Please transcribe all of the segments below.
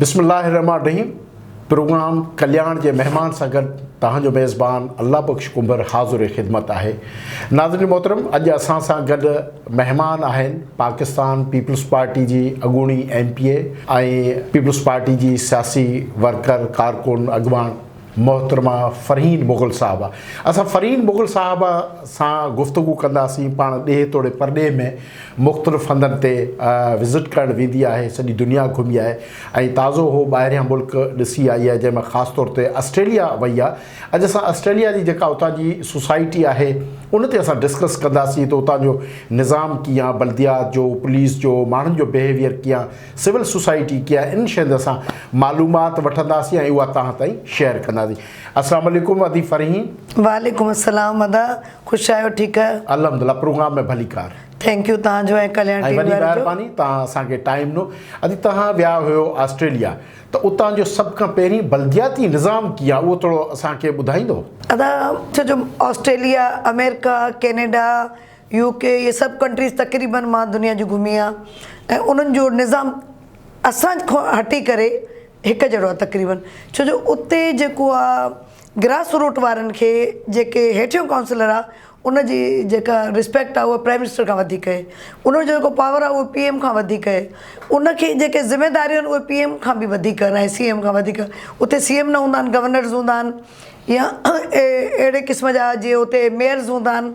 بسم الله الرحمان الرحيم پروگرام ڪلياڻ جي مهمان سان گڏ توهان جو ميزبان الله بخش ڪنڀر حاضر خدمت آهي ناظرين محترم اڄ اسان سان گڏ مهمان آهن پاڪستان پيپلز پارٽي جي اڳوڻي M P A ۽ Peoples Party جي سياسي ورڪر ڪارڪن اڳواڻ محترمه فرحين مغل صاحبه اسان فرحين مغل صاحبه سان گفتگو ڪنداسين پاڻ ڏيهه توڙي پرڏيهه ۾ مختلف هنڌن تي وزٽ ڪرڻ ويندي آهي سڄي دنيا گهمي آهي ۽ تازو هو ٻاهريان ملڪ ڏسي آئي آهي جنهن ۾ خاص طور تي آسٽريليا وئي آهي اڄ اسان آسٽريليا جي جيڪا اتان جي سوسائٽي آهي ان تي اسان ڊسڪس ڪنداسين ته اتان جو نظام ڪيئن آهي بلديات جو پوليس جو ماڻهن جو بهيويئر ڪيئن آهي سول سوسائٽي ڪي آهي ان شين اسان معلومات وٺنداسين ۽ اها توهان تائين شيئر ڪنداسين السلام عليڪم ادي فرحين. وعليڪم السلام ادا خوش آهيو ٺيڪ. الحمد الله پروگرام ۾ ڀليڪار. ٿينڪ يو تهان جو ۽ ڪليان ٽيم وارن جو. ۽ وڏي مهرباني تهان اسان کي ٽائيم ڏنو. ادي تهان ويا هيو آسٽريليا ته اتان جو سڀ کان پهرين بلدياتي نظام ڪيئن اهو ٿورو اسان کي ٻڌائيندو. ادا ڇو جو Australia, America, Canada. U K اهي سڀ ڪنٽريز تقريبن مان دنيا جون گهمي آ ۽ انهن جو نظام اسان کان هٽي ڪري هڪ جهڙو آ تقريبن ڇو جو اتي جيڪو آ گراس روٽ وارن کي جيڪي هيٺيون ڪائونسلر آ ان جي جيڪا رسپيڪٽ آ اهو پرائم منسٽر کان وڌيڪ اهي ان جو جيڪو پاور آ اهو پي ايم کان وڌيڪ اهي ان کي جيڪي ذمه داريون اهي پي ايم کان به وڌيڪ آهن ۽ سي ايم کان وڌيڪ اتي سي ايم نه هوندا آهن گورنرز هوندا آهن يا اهڙي قسم جا جي اتي ميئرز هوندا آهن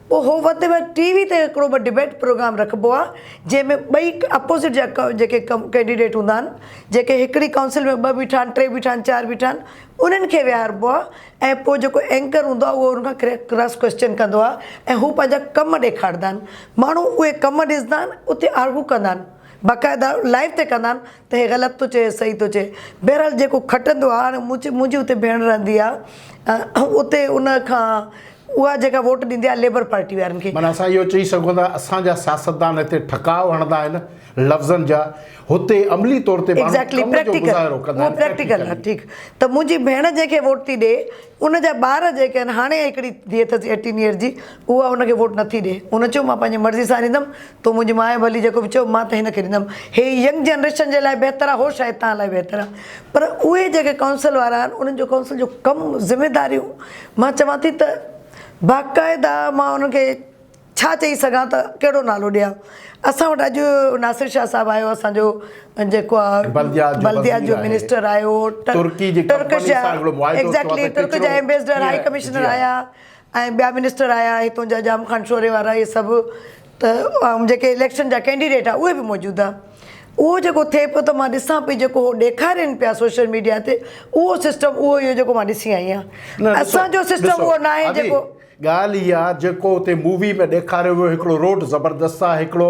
پوء هو وڌ ۾ وڌ ٽي وي تي هڪڙو ٻه ڊبيٽ پروگرام رکبو آهي جنهن ۾ ٻئي اپوزٽ جا جيڪي ڪينڊيڊيٽ هوندا آهن جيڪي هڪڙي ڪائونسل ۾ ٻه بيٺا آهن ٽي بيٺا آهن چار بيٺا آهن انهن کي ويهاربو آهي ۽ پوء جيڪو اينڪر هوندو آهي اهو انهن کان ڪراس ڪويسچن ڪندو آهي ۽ هو پنهنجا ڪم ڏيکاردا آهن ماڻهو اهي ڪم ڏسندا آهن اتي آرگو ڪندا آهن باقاعده لائيو تي ڪندا آهن ته هي غلط ٿو چئي صحيح ٿو چئي بهرحال جيڪو کٽندو آهي هاڻي منهنجي اتي ڀيڻ رهندي آهي اتي ان کان اها جيڪا ووٽ ڏيندي آهي ليبر پارٽي وارن کي. معنيٰ اسان اهو چئي سگهون ٿا اسان جا سياستدان هتي ٺڪاء هڻندا آهن لفظن جا هتي عملي طور تي ماڻهو ڪم جو مظاهرو ڪندا آهن پريڪٽيڪل ها ٺيڪ ته منهنجي ڀيڻ جنهن کي ووٽ ٿي ڏي ان جا ٻار جيڪي آهن هاڻي هڪڙي ڌيء اٿس ايٽين ييئر جي اها ان کي ووٽ نٿي ڏي ان چيو مان پنهنجي مرضي سان ڏيندم تو منهنجي ماء ڀلي جيڪو به چيو مان ته هن کي ڏيندم هي ينگ جنريشن جي لاء بهتر آهي هو شايد توهان لاء بهتر آهي پر اهي جيڪي ڪائونسل وارا آهن انهن جو ڪائونسل جو ڪم ذميداريون مان چوان ٿي ته باقاعده مان انهن کي ڇا چئي سگهان ته ڪهڙو نالو ڏيان اسان وٽ اڄ ناصر شاهه صاحب آيو اسان جو جيڪو آهي بلديات جو منسٽر آيو ٽرڪش جا ايگزيڪٽلي ٽرڪش جا ايمبيسڊر هاء ڪمشنر آيا ۽ ٻيا منسٽر آيا هتون جا ڄام خان شوري وارا اهي سڀ ته عام جيڪي اليڪشن جا ڪينڊيڊيٽ آ اهي به موجود آ اهو جيڪو ٿئي پيو ته مان ڏسان پئي جيڪو هو ڏيکارين پيا سوشل ميڊيا تي اهو سسٽم اهو اهو جيڪو مان ڏسي آئي آهيان نه ڏسو اسان جو سسٽم ڏسو اهو ناهي ادي جيڪو ڳالهه اها جيڪو اتي مووي ۾ ڏيکاريو ويو هڪڙو روڊ زبردست آ هڪڙو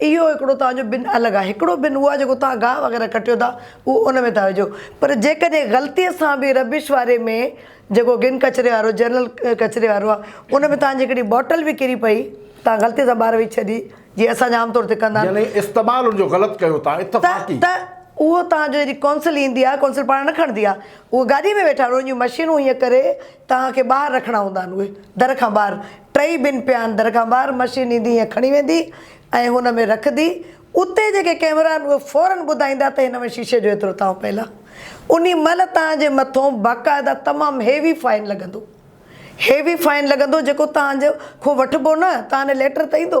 اهو هڪڙو توهان جو بن الڳ آهي هڪڙو بن اهو آهي جيڪو توهان گاهه وغيره ڪٽيو ٿا اهو ان ۾ ٿا وجهو پر جيڪڏهن غلطي سان به ربش واري ۾ جيڪو ڪن ڪچري وارو جنرل ڪچري وارو آهي ان ۾ توهان جي هڪڙي بوٽل به ڪري پئي توهان غلطي سان ٻاهر وجهي ڇڏي جي اسان جا عام طور تي ڪندا آهن يعني استعمال ان جو غلط ڪيو ٿا اتفاقي ته اهو توهان جو جيڪي ڪونسل ايندي آهي ڪونسل پاڻ نه کڻندي آهي اهو گاڏي ۾ ويٺا آهن ان جون مشينون هيئن ڪري توهان کي ٻاهر رکڻا هوندا آهن اهي در کان ٻاهر ٽئي ٻن پيان در کان ٻاهر مشين ايندي ائين کڻي ويندي ۽ هن ۾ رکندي اتي جيڪي ڪئميرا آهن اهي فورن ٻڌائيندا ته هن ۾ شيشي جو ايترو تانء پيل آهي انهي مهل توهان جي مٿون باقاعده تمام هيوي فائن لڳندو هيوي فائن لڳندو جيڪو توهان جو کون وٺبو نه توهان ڏي ليٽر ته ايندو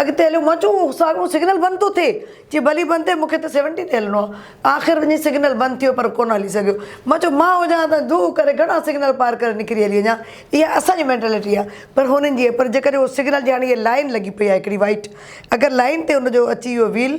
اڳتي هليو مان چيو اهو ساڳيو سگنل بند ٿو ٿئي چي ڀلي بند ٿئي مون کي ته سيونٽي تي هلڻو آهي آخر وڃي سگنل بند ٿيو پر ڪونه هلي سگهيو مان چيو مان هجان ها ته دونهون ڪري گهڻا سگنل پار ڪري نڪري هلي وڃان ها اها اسان جي مينٽلٽي آهي پر هنن جي پر جيڪڏهن اهو سگنل جي هاڻي هيء لائين لڳي پئي آهي هڪڙي وائيٽ اگر لائين تي ان جو اچي ويو ويل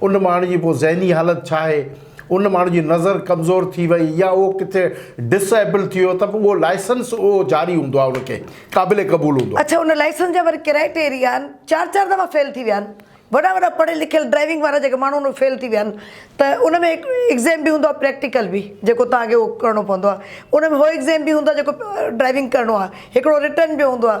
ان ماڻهو جي پوء ذهني حالت ڇا آهي؟ ان ماڻهو جي نظر ڪمزور ٿي وئي يا اهو ڪٿي ڊس ايبل ٿي ويو ته پوء اهو لائسنس اهو جاري هوندو آهي ان کي قابل قبول هوندو آهي. اڇا ان لائسنس جا وري ڪرائيٽيريا آهن چار چار دفعا فيل ٿي ويا آهن وڏا وڏا پڙهيل لکيل ڊرائيونگ وارا جيڪي ماڻهو ان فيل ٿي ويا آهن ته ان ۾ ايگزيم به هوندو آهي پريڪٽيڪل به جيڪو تان کي اهو ڪرڻو پوندو آهي ان ۾ هو ايگزيم به هوندو آهي جيڪو ڊرائيونگ ڪرڻو آهي هڪڙو رٽن به هوندو آهي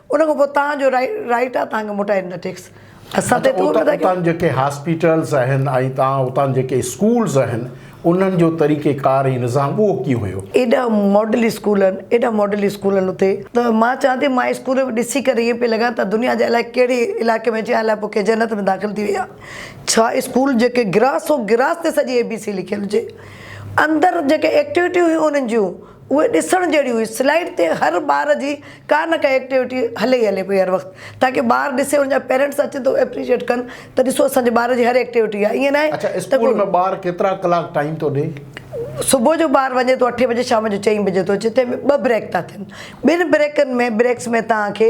ان کان پوء توهان جو رائيٽ آهي توهان کي موٽائي ڏيندا ٽيڪس اسان تي تور نٿا ڪيون. اتان جيڪي هاسپيٽلز آهن ۽ توهان اتان جيڪي اسڪولز آهن انهن جو طريقي ڪار ۽ نظام اهو ڪيئن هيو؟ ايڏا ماڊل اسڪول آهن ايڏا ماڊل اسڪول آهن اتي ته مان چوان ٿي مان اسڪول ڏسي ڪري ائين پئي لڳان ته دنيا جي الائي ڪهڙي علائقي ۾ اچي الائي پوء ڪنهن جنت ۾ داخل ٿي وئي آهيان ڇا اسڪول جيڪي گراس هو گراس تي سڄي اي بي سي لکيل هجي اندر جيڪي ايڪٽيوٽيون هيون انهن جون اهي ڏسڻ جهڙيون هيون سلائيڊ تي هر ٻار جي ڪا نه ڪا ايڪٽيوٽي هلي ئي هلي پئي هر وقت تاڪي ٻار ڏسي ان جا پيرنٽس اچن ته ايپريشيئٽ ڪن ته ڏسو اسان جي ٻار جي هر ايڪٽيوٽي آهي ائين ناهي اڇا اسڪول ۾ ٻار ڪيترا ڪلاڪ ٽائيم ٿو ڏي؟ صبح جو ٻار وڃي ٿو اٺين بجي شام جو چئين بجي ٿو اچي تنهن ۾ ٻه بريڪ ٿا ٿين ٻن بريڪن ۾ بريڪس ۾ توهان کي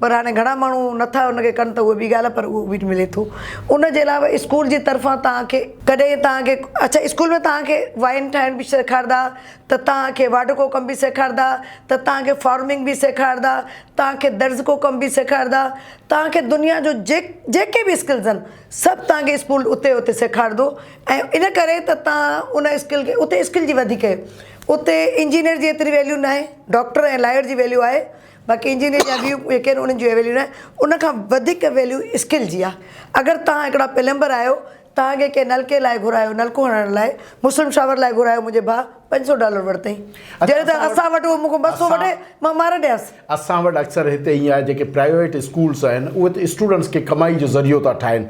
پر هاڻي گهڻا ماڻهو نه ٿا ان کي ڪن ته اهو ٻي ڳالهه پر اهو به ملي ٿو ان جي علاوه اسڪول جي طرفان توهان کي ڪڏهن توهان کي اڇا اسڪول ۾ توهان کي وائن ٺاهڻ به سيکاردا ته توهان کي واڍ ڪو ڪم به سيکاردا ته توهان کي فارمنگ به سيکاردا توهان کي درز ڪو ڪم به سيکاردا توهان کي دنيا جو جي جيڪي به اسڪلز آهن سڀ توهان کي اسڪول اتي اتي سيکارندو ۽ ان ڪري ته توهان ان اسڪل کي اتي اسڪل جي وڌيڪ اتي انجنيئر جي ايتري ويليو ناهي ڊاڪٽر ۽ لاير جي ويليو آهي باقي انجنيئر جا ويو جيڪي آهن انهن جي ويليو ناهي ان کان وڌيڪ ويليو اسڪل جي آهي اگر تهان هڪڙا پلمبر آهيو تهان کي ڪنهن نلڪي لاء گهرايو نلڪو هڻڻ لاء مسلم شاور لاء گهرايو منهنجي ڀاء پنج سو ڊالر ورتئين جڏهن ته اسان وٽ هو مون کان ٻه سو وٺي مان مار ڏيانس. اسان وٽ اڪثر هتي ائين آهي جيڪي پرائيويٽ اسڪولس آهن اهي ته اسٽوڊنٽس کي ڪمائي جو ذريعو ٿا ٺاهن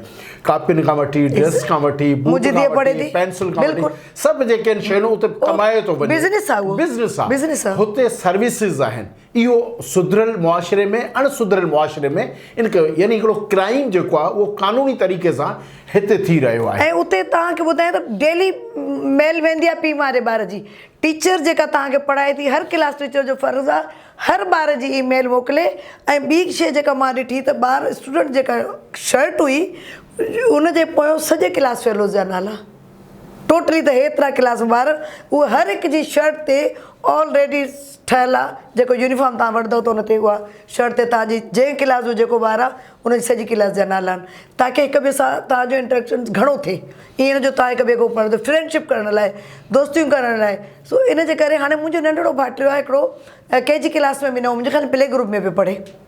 ڪاپين کان وٺي ڊريس کان وٺي بوٽ کان وٺي پينسل کان وٺي سڀ جيڪي آهن شيون اتي ڪمايو ٿو وڃي. بزنس آهي اهو. بزنس آهي. بزنس آهي. هتي سروسز آهن. اهو سڌريل معاشري ۾ اڻ سڌريل معاشري ۾ ان ڪيو يعني هڪڙو ڪرائيم جيڪو آهي اهو قانوني طريقي سان هتي ٿي رهيو آهي. ۽ اتي توهان کي ٻڌايان ته ڊيلي ميل ويندي آهي پي واري ٻار جي. ٽيچر جيڪا توهان کي پڙهائي ٿي هر ڪلاس ٽيچر جو فرض آهي هر ٻار جي اي ميل موڪلي ۽ ٻي شي جيڪا مان ڏٺي ته ٻار اسٽوڊنٽ جيڪا شرٽ هئي ان جي پويان سڄي ڪلاس فيلوز جا نالا. ٽوٽلي ته هيترا ڪلاس ٻار اهو هر هڪ جي شرٽ تي آل ريڊي ٺهيل آ جيڪو يونيفارم توهان وٺندؤ ته ان تي اها شرٽ تي توهان جي جنهن ڪلاس جو جيڪو ٻار آ ان جي سڄي ڪلاس جا نالا آهن تاڪي هڪ ٻئي سان توهان جو انٽريڪشن گهڻو ٿئي ائين نه جو توهان هڪ ٻئي کان پڙهندو ته فرينڊ شپ ڪرڻ لاء دوستيون ڪرڻ لاء سو ان جي ڪري هاڻي منهنجو ننڍڙو ڀائٽيو آ هڪڙو ڪي جي ڪلاس ۾ به نه هو منهنجي خيال پلي گروپ ۾ پيو پڙهي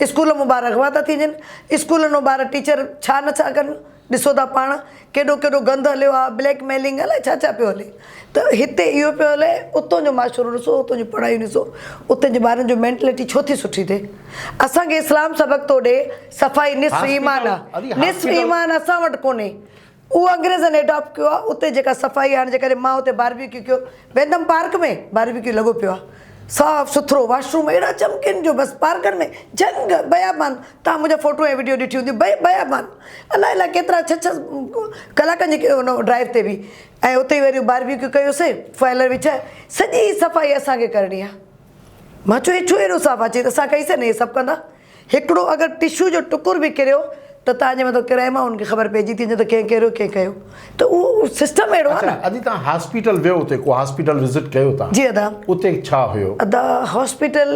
اسڪول مون ٻار اغوا ٿا ٿي وڃن، اسڪولن مون ٻار ٽيچر ڇا نه ٿا ڪن، ڏسو ٿا پاڻ ڪيڏو ڪيڏو گند هليو آ، بليڪ ميلنگ الائي ڇا ڇا پيو هلي ته هتي اهو پيو هلي، اتون جو معاشرو ڏسو، اتون جون پڙهايون ڏسو، اتي جي ٻارن جو مينٽلٽي ڇو ٿي سٺي ٿئي، اسان کي اسلام سبق ٿو ڏي صفائي نصف ايمان آ، نصف ايمان اسان وٽ ڪونهي. اهو انگريزن ايڊاپٽ ڪيو آهي اتي جيڪا صفائي آهي جي ڪري مان اتي باربيڪيو ڪيو ويندم پارڪ ۾ باربيڪيو لڳو پيو آهي صاف سٿرو واش روم اهڙا چمڪين جو بس پارڪن ۾ جهنگ بيابان تان منهنجا فوٽو ۽ وڊيو ڏٺي هوندي بي بيابان الاء الاء ڪيترا ڇهه ڇهه ڪلاڪن جي ان ڊرائيو تي به ۽ اتي وري باربيڪيو ڪيوسي فائلر وچ سڄي صفائي اسان کي ڪرڻي آهي مان چيو هي ڇو اهڙو صاف آهي چي اسان ڪئي سي نه هي سڀ ڪندا. هڪڙو اگر ٽشو جو ٽڪر به ڪريو ته تنهن جي مٿو ڪرائي مان ان کي خبر پئجي ٿي وڃي ته ڪنهن ڪريو ڪنهن ڪيو ته اهو سسٽم اهڙو آهي نه. اچا ادي تان هاسپيٽل ويو اتي ڪو هاسپيٽل وزٽ ڪيو تان جي ادا اتي ڇا هيو. ادا هاسپيٽل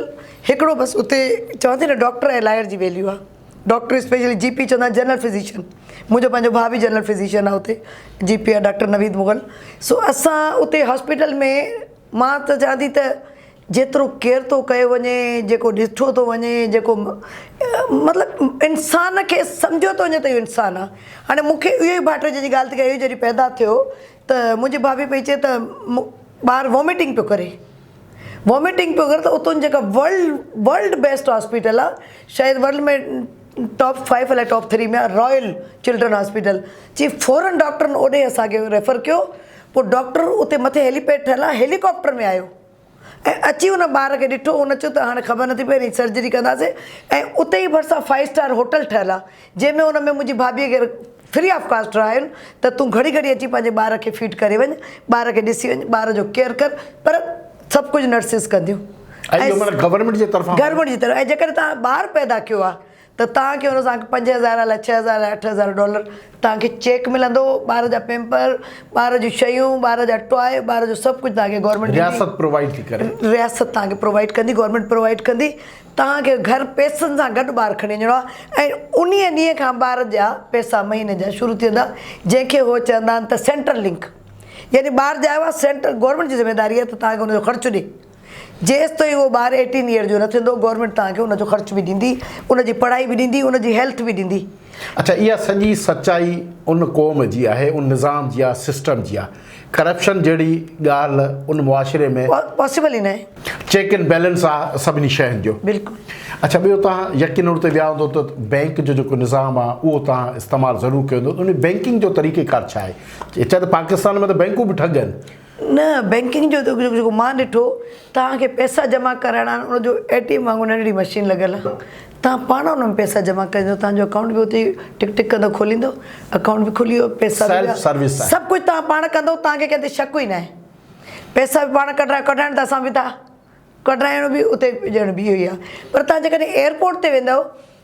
هڪڙو بس اتي چوان ٿي نه ڊاڪٽر ۽ لاير جي ويليو آهي ڊاڪٽر اسپيشلي جي پي چوندا آهن جنرل فزيشن منهنجو پنهنجو ڀاء به جنرل فزيشن آهي اتي جي پي آهي ڊاڪٽر نويد مغل سو اسان اتي هاسپيٽل ۾ مان ته چوان ٿي ته جيترو ڪيئر ٿو ڪيو وڃي، جيڪو ڏٺو ٿو وڃي، جيڪو مطلب انسان کي سمجهيو ٿو وڃي ته اهو انسان آ. هاڻي مون کي اهو ئي ڀائٽو جنهن جي ڳالهه ٿي ڪيان اهو جڏهن پيدا ٿيو ته منهنجي ڀاڀي پئي چئي ته ٻار واميٽنگ پيو ڪري واميٽنگ پيو ڪري ته اتون جيڪا ورلڊ ورلڊ بيسٽ هاسپيٽل آ شايد ورلڊ ۾ ٽاپ فائيو الاء ٽاپ ٿري ۾ آ رائل چلڊرن هاسپيٽل چي فورن ڊاڪٽرن اوڏي اسان کي ريفر ڪيو پوء ڊاڪٽر اتي مٿي هيلي پيڊ ٺهيل آ هيليڪاپٽر ۾ آيو. ۽ اچي ان ٻار کي ڏٺو ان چيو ته هاڻي خبر نٿي پوي هن جي سرجري ڪنداسين ۽ اتي ئي ڀرسان فائيو اسٽار هوٽل ٺهيل آ جنهن ۾ ان ۾ منهنجي ڀاڀي کي فري آف ڪاسٽ رهايون ته تون گهڙي گهڙي اچي پنهنجي ٻار کي فيڊ ڪري وڃ ٻار کي ڏسي وڃ ٻار جو ڪيئر ڪر پر سڀ ڪجهه نرسز ڪنديون ۽ گورنمينٽ جي طرفان ۽ جيڪڏهن توهان ٻار پيدا ڪيو آ ته توهان کي ان سان پنج هزار الاء ڇهه هزار الاء اٺ هزار ڊالر توهان کي چيڪ ملندو ٻار جا پيمپر ٻار جون شيون ٻار جا ٽواء ٻار جو سڀ ڪجهه توهان کي گورنمينٽ رياست پرووائيڊ ٿي ڪري رياست توهان کي پرووائيڊ ڪندي گورنمينٽ پرووائيڊ ڪندي توهان کي گهر پيسن سان گڏ ٻار کڻي وڃڻو آهي ۽ انهي ڏينهن کان ٻار جا پيسا مهيني جا شروع ٿي ويندا جنهن کي هو چوندا آهن ته سينٽرل لنڪ يعني ٻار ڄايو آهي سينٽر گورنمينٽ جي ذميواري آهي ته توهان کي ان جو خرچ ڏي جيستائين اهو ٻار ايٽين ايئر جو نه ٿيندو گورنمينٽ توهان کي ان جو خرچ به ڏيندي ان جي پڙهائي به ڏيندي ان جي هيلٿ به ڏيندي. اڇا اها سڄي سچائي ان قوم جي آهي ان نظام جي آهي سسٽم جي آهي ڪرپشن جهڙي ڳالهه ان معاشري ۾ پاسيبل ئي ناهي. چيڪ اينڊ بيلنس آهي سڀني شين جو. بلڪل. اڇا ٻيو توهان يقينن اتي ويا هوندو ته بينڪ جو جيڪو نظام آهي اهو توهان استعمال ضرور ڪيو هوندو ان بينڪنگ جو طريقه ڪار ڇا آهي؟ اچا ته پاڪستان ۾ ته بينڪون به ٺڳ آهن. نه بينڪنگ جو جيڪو جيڪو مان ڏٺو توهان کي پئسا جمع ڪرائڻا آهن ان جو اي ٽي ايم وانگو ننڍڙي مشين لڳل آهي توهان پاڻ ان ۾ پئسا جمع ڪريندو توهان جو اڪائونٽ به اتي ٽڪ ٽڪ ڪندو کوليندو اڪائونٽ به کلي ويو پئسا به سيلف سروس آهي سڀ ڪجهه توهان پاڻ ڪندو توهان کي ڪنهن تي شڪ ئي نه آهي پئسا به پاڻ ڪڍرا ڪڍرائڻ ته اسان به ٿا ڪڍرائڻ به اتي ڄڻ به اهو ئي آهي پر توهان جيڪڏهن ايئرپورٽ تي ويندو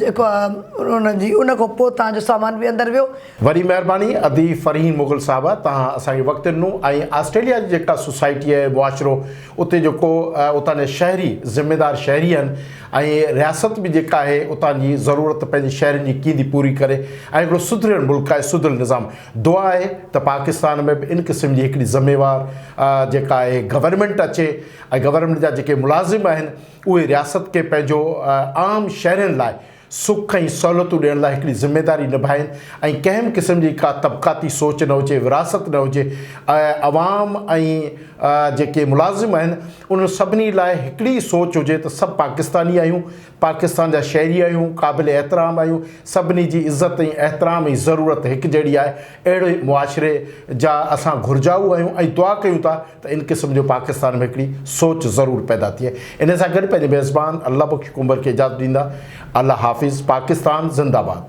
جيڪو ان جي ان کان پوء توهان جو سامان به اندر ويو. وڏي مهرباني ادي فرحين مغل صاحب توهان اسان کي وقت ڏنو ۽ آسٽريليا جي جيڪا سوسائٽي ۽ معاشرو اتي جو ڪو اتان جا شهري ذميدار شهري آهن ۽ رياست به جيڪا آهي اتان جي ضرورت پنهنجي شهرين جي ڪيندي پوري ڪري ۽ هڪڙو سڌريل ملڪ آهي سڌل نظام دعا آهي ته پاڪستان ۾ به ان قسم جي هڪڙي ذميوار جيڪا آهي گورنمينٽ اچي ۽ گورنمينٽ جا جيڪي ملازم آهن اهي رياست کي پنهنجو عام شهرين لاء سک ۽ سهولتون ڏيڻ لاء هڪڙي ذميداري نڀائين ۽ ڪنهن به قسم جي ڪا طبقاتي سوچ نه هجي، ورهاست نه هجي ۽ عوام ۽ جيڪي ملازم آهن انهن سڀني لاء هڪڙي ئي سوچ هجي ته سڀ پاڪستاني آهيون، پاڪستان جا شهري آهيون، قابل احترام آهيون، سڀني جي عزت ۽ احترام ۽ ضرورت هڪجهڙي آهي، اهڙي معاشري جا اسان گهرجائو آهيون ۽ دعا ڪيون ٿا ته ان قسم جو پاڪستان ۾ هڪڙي سوچ ضرور پيدا ٿئي. انهي سان گڏ پنهنجي ميزبان الله بخش ڪنڀر کي اجازت ڏيندا. الله حافظ. پاڪستان زنده آباد.